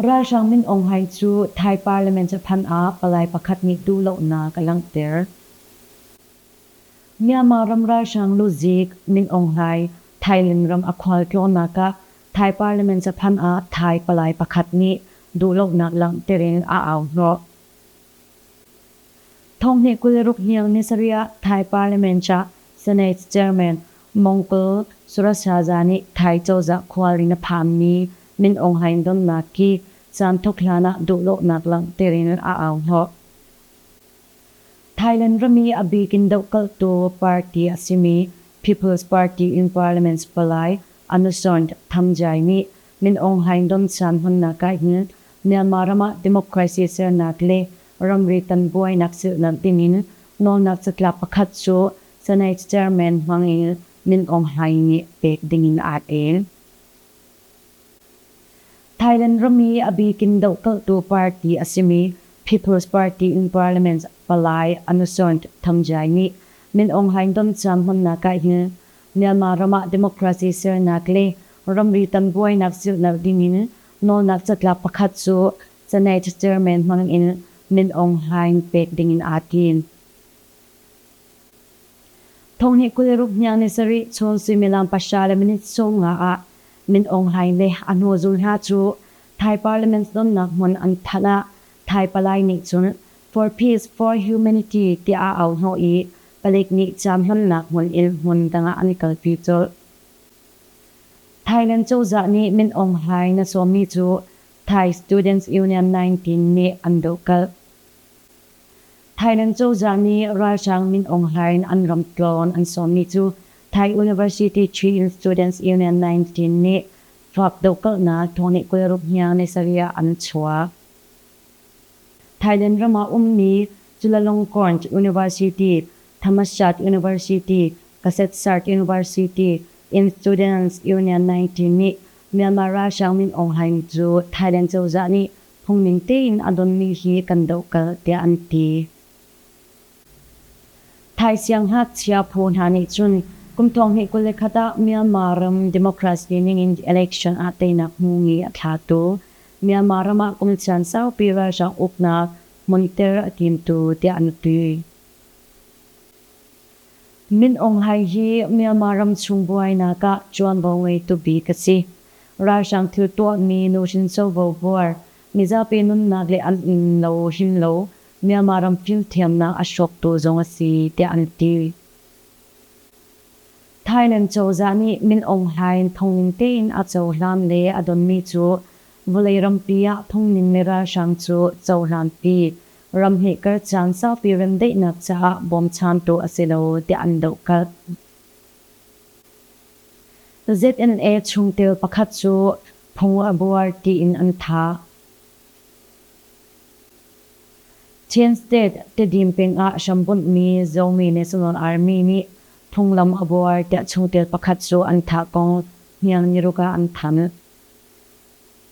Ralhrang Min Aung Hlaing cu Thai Parliament caphan ah palai pakhat nih duhlonak a langhter. Myanmar ram ralhrang luzik Min Aung Hlaing Thailand ram a khualtlawnnak ah Thai Parliament caphan ah Thai palai pakhat nih duhlonak langhter in a au hnawh. Thawnghneh kul le ruk hniang ni sarih ah Thai Parliament ah Senate Chairman Mongpul Surashaja nih Thai cozah khualrin a phanmi Min Aung Hlaing donnak hi caanthok hlan ah duhdawhnak langhter in a au hnawh. Thailand rami a bik in dohkalhtu party a simi People's Party in Parliament palai Anusoint Thamjai nih Min Aung Hlaing don caan hmannak ah hin Myanmar ram ah democracy sernak le Ramri tan buainak zulhlamh dingin nawlnak catlap pakhat cu Senate Chairman Hmang Il Min Aung Hlaing nih pek dingin aa el. Thailand rami a bikin dohkalhtu party a simi People's Party in Parliament palai Anusant Thangjiai nih Min Aung Hlaing domciam hmannak ahhin Myanmar ram ah democracy sernak le ramri tan buainak zulhlamh dingin nawlnak catlap pakhat cu Senate Chairman hmang in Min Aung Hlaing pek ding in aa tim. Thonghnih kul ruk hniang ni sarih chun suimilam pahra le minute sawm nga ah Min Aung Hlaing le a hnuzul hna cu Thai Parliament tlonnak hmun an thanh ah Thai palai nih cun For Peace For Humanity tiah a auhnawh i palik nih ciamhlamnak hmun in hmun dang ah an kalpi colh. Thailand cozah nih Min Aung Hlaing na sawmmi cu Thai Students Union nineteen nih an dohkalh. Thailand cozah nih ralhrang Min Aung Hlain an ram tlawn an sawmmi cu Thai University Chin Students Union nineteen nih Fak dohkalhnak thawngnih kul ruk hniang ni sarih ah an chuak. Thailand ram ah ummi Chulalongkorn University, Thammashat University, Kasetsart University in Students Union nineteen nih Myanmar ralhrang Min Aung Hlaing cu Thailand cozah nih phungning tein a donmi hi kan dohkalh tiah an ti. Thai sianghngakchia phu hna nih cun kum thonghnih kul le khat ah Myanmar ram democracy ningin election ah teinak hmu ngi a thlatu Myanmar ram ah kum caan saupi ralhrang uknak hmunter a timtu tiah an ti. Min Aung Hlaing hi Myanmar ramchung buainak ah ṭuanvo ngeitu bik a si. Ralhrang thil tuahmi nuhrin covo buar, mizapi nunnak le an innlo him lo Myanmar ram fimthiamnak a hrawktu zong a si tiah an ti. Thailand cozah nih Min Aung Hlaing thongning tein a cohlan le a donmi cu vawlei rampi ah thongning le ralhrang cu cohlanpi ramhnih kar caan saupi remdaihnak caah bawmchantu a si lo tiah an dohkalh. ZNA chungtel pakhat cu phung a buar tiin an thah. Chin State, Tedim peng ah hrambunhmi Zomi National Army nih phunglam a buar tiah chungtel pakhat cu an thah kong hniang niruk ah an thanh.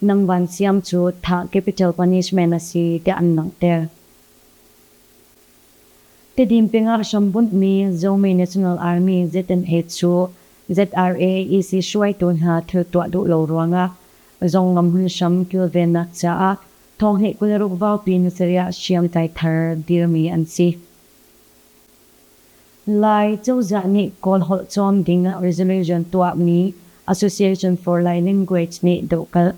Nang Van Siam cu thah capital punishment a si tiah an langhter. Tedim pengah hrambunhmi Zomi National Army ZNH cu ZRAEC hruaitu hna thil tuah duh lo ruangah zong ngamhmun hram kilvennak caah thonghnih kul ruk vaupi ni sarih ah hriamtlai thar dirmi an si. Lai cozah nih Kawl holh cawm ding ah resolution tuahmi Association for Lai Language nih dohkalh.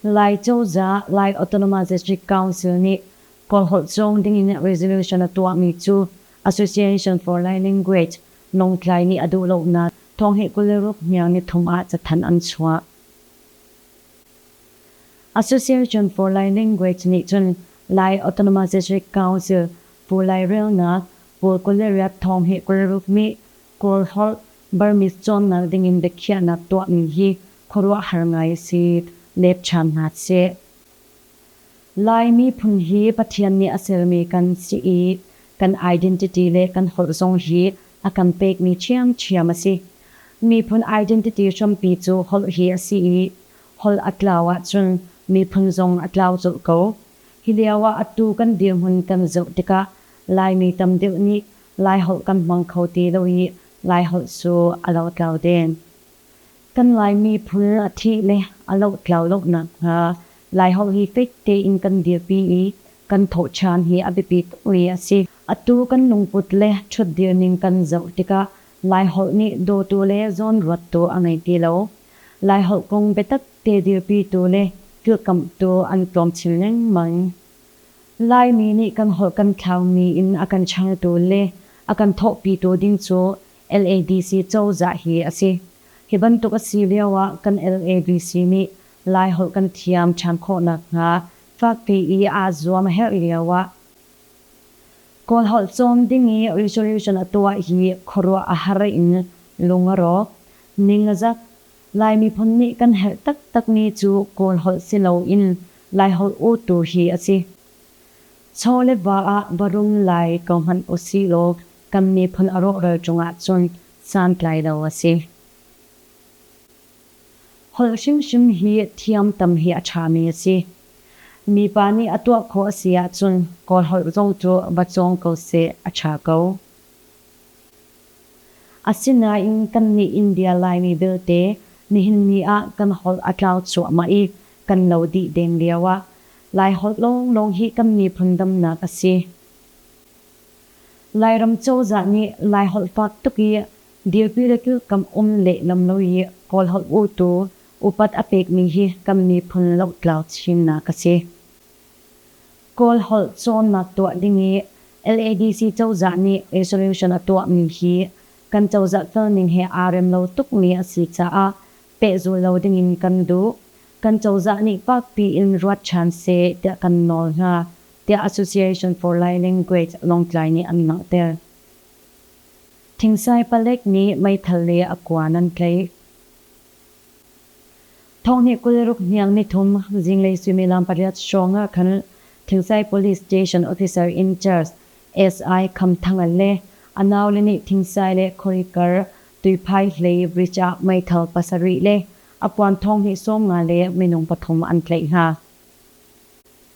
Lai cozah Lai Autonomous Council nih Kawl holh cawm ding in resolution a tuahmi cu Association for Lai Language, Lawngtlai nih a duh lonak thawng hi kul le ruk hniang nithum ah cathanh an chuah. Association for Lai Language nih cun Lai Autonomization Council Pu Lai Relnak, pawl kul le riat thawng hi Kawlruk nih Kawlholh Burmese cawnnak dingin biakhiahnak tuahmi hi khuaruahhar ngai a si, lepchan hna seh. Lai miphun hi Pathian nih a sermi kan si i kan identity le kan holh zong hi a kan pekmi ṭhiamṭhiam a si. Miphun identity hrampi cu holh hi a si i holh a tlau ahcun miphun zong a tlau colh ko. Hi lio ah atu kan dirhmun kan zoh tikah Laimi tam deuh nih Laiholh kan hmang kho ti lo i Laiholh cu a lotlau den. Kan Laimi phun a thih le a lohtlau lo nakhnga Laiholh hi fek tein kan dirpi i kan thawhṭhan hi a biapi tuk mi a si. Atu kan lungput le ṭhutdir ning kan zoh tikah Laiholh nih dawtu le zawnruattu a ngei ti lo. Laiholh kong biatak te dirpitu le kilkamhtu an tlawmchil lengmang. Laimi nih kan holh kan thlaumi in a kan changtu le a kan thawhpitu ding cu LADC cozah hi a si. Hi bantuk a si lio ah kan LADC nih Laiholh kan thiam ṭhan khawh nakhnga fakpi i aa zuam a herh lio ah Kawlholh cawm ding i resolution a tuah hi khuaruah a har in lung a rawk. Ningzak, Lai miphun nih kan herh taktakmi cu Kawlholh si loin Laiholh utu hi a si. Chaw le va ah va rum lai ko hmanh usihlaw Kan miphun a rawhral cung ahcun santlai lo a si. Holh hrimhrim hi thiam tam hi a ṭhami a si. Mipa nih a tuah khawh a si ahcun Kawl holh zong cu va cawng ko seh, a ṭha ko. Asinain kannih India Laimi belte nihin ni ah kan holh a tlau cuahmah i kan lo dih deng lio ah Lai holh lawnglawng hi kan miphun damnak a si. Lairam cozah nih Laiholh fak tuk i dirpi le kilkam um lehlam lo i Kawlholh utu upat a pekmi hi kan miphun lohtlau chinnak a si. Kawlholh cawnnak tuah ding i LADC cozah nih resolution a tuahmi hi kan cozah felning he aa rem lo tukmi a si caah pehzul lo dingin kan duh. Kan cozah nih fakpi in ruat ṭhan seh tiah kan nawl hna, tiah Association for Lai-Language Lawngtlai nih an langhter. Thingsai palek nih meithal le a kua nan tlaih. Thonghnih kul ruk hniang nithum zinglei suimilam pariat hrawng ah khan Thingsai Police Station Officer in Charge SI Kham Thang le a naule nih Thingsai le Khoikar tuiphai hlei bridge ah meithal pasarih le a puan thonghnih sawm nga le minung pathum an tlaih hna.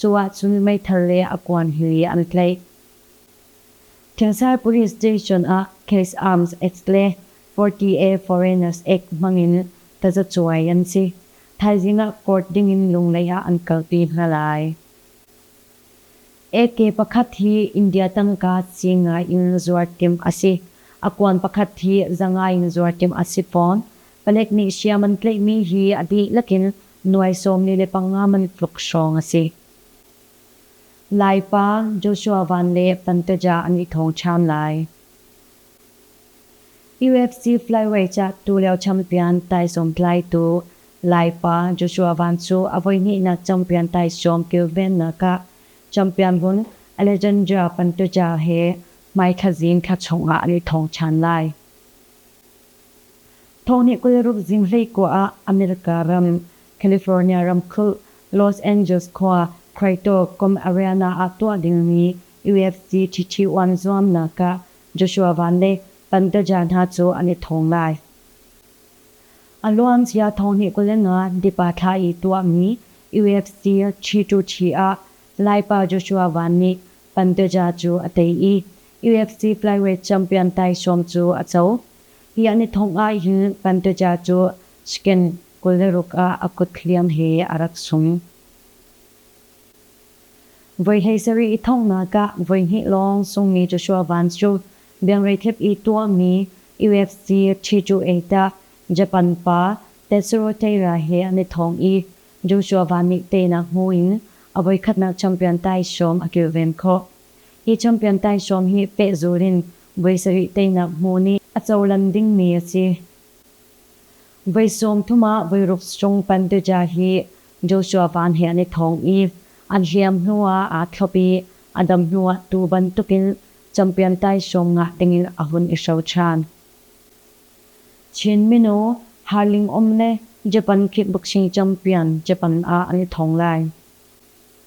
Cu ahcun meithal le a kuan hi an tlaih. Thengsar Police Station ah Case Arms Acts le Forty-A Foreigners Act hmangin tazacuai an si. Thaizing ah court dingin Lunglei ah an kalpi hna lai. AK pakhat hi India tangka ci ngai in zuartimh a si. A kuan pakhat hi za ngai in zuartimh a si fawn. Palek nih hriam an tlaihmi hi a dihlak in Nuai sawmli le panga man tluk hrawng a si. Lai pa Joshua Van le Pantaja an i thawngṭham lai. UFC flyweight ah tulio champion taisawm tlaitu Lai pa Joshua Van cu a voihnihnak champion taisawm kilvennak ah champion vun Alejandra Pantaja he hmaithla zing thla chungah an i thawng ṭhan lai. Tho nih kul-ruk zinglei kua ah America ram, California ramkulh, Los Angeles khua, Quito kum Ariana ah tuah dingmi UFC Chichi-Wan zuamnak ah Joshua Van le Bandaja hna cu an i thawng lai. A luan cia Tho nih kul le nga dipa thla i tuahmi UFC Chi-To-Chi ah Laipa Joshua Van nih Bandaja cu a tei i UFC Flyweight Champion taisawm cu a co. Hi an i thongh ahhin Panteja cu skin kul le ruk ah a kut hliam he a rak sung. Voi hleisarih i thongnak ah voihnih lawng sungmi Joshua Vance cu biangreithep i tuahmi UFC Ṭhi-Cu-Eit ah Japan pa Tetsuo Teira he an i thawng i Joshua Van nih teinak hmu in a voikhatnak champion taisawm a kilven khawh. Hi champion taisawm hi pehzul in voi sarih teinak hmu nih a cohlan dingmi a si. Voi sawmthum ah voiruk strong Panteja hi Joshua Van he an i thawng i an hliam hnuah aa thlop i a dam hnuah tu bantukin champion taisawm ngah dingin a hun i hro ṭhan. Chin minu Harling Om le Japan kickboxing champion Japan ah an i thawng lai.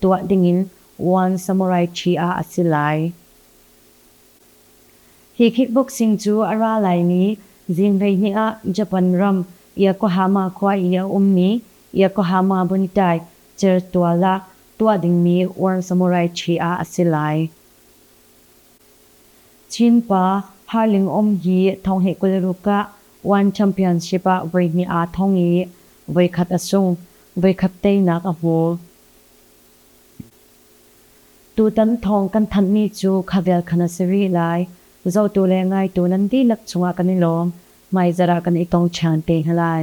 tuah dingin One Samurai Chia a si lai. Hi kickboxing cu a ra laimi zing hleihnih ah Japan ram Yokohama khua i a ummi Yokohama Buntai Certual ah tuah dingmi One Samurai Chia a si lai. Chin pa Harling Um hi Thonghnih kulruk ah One Championship ah voihnih aa thong i voikhat a sung, voikhat teinak a hmu. Tutan thong kan thanhmi cu khavial khan a si rih lai. Zotu le ngaitu nan dihlak chungah kan i lawm. Hmaizarh ah kan i tong ṭhan te hna lai.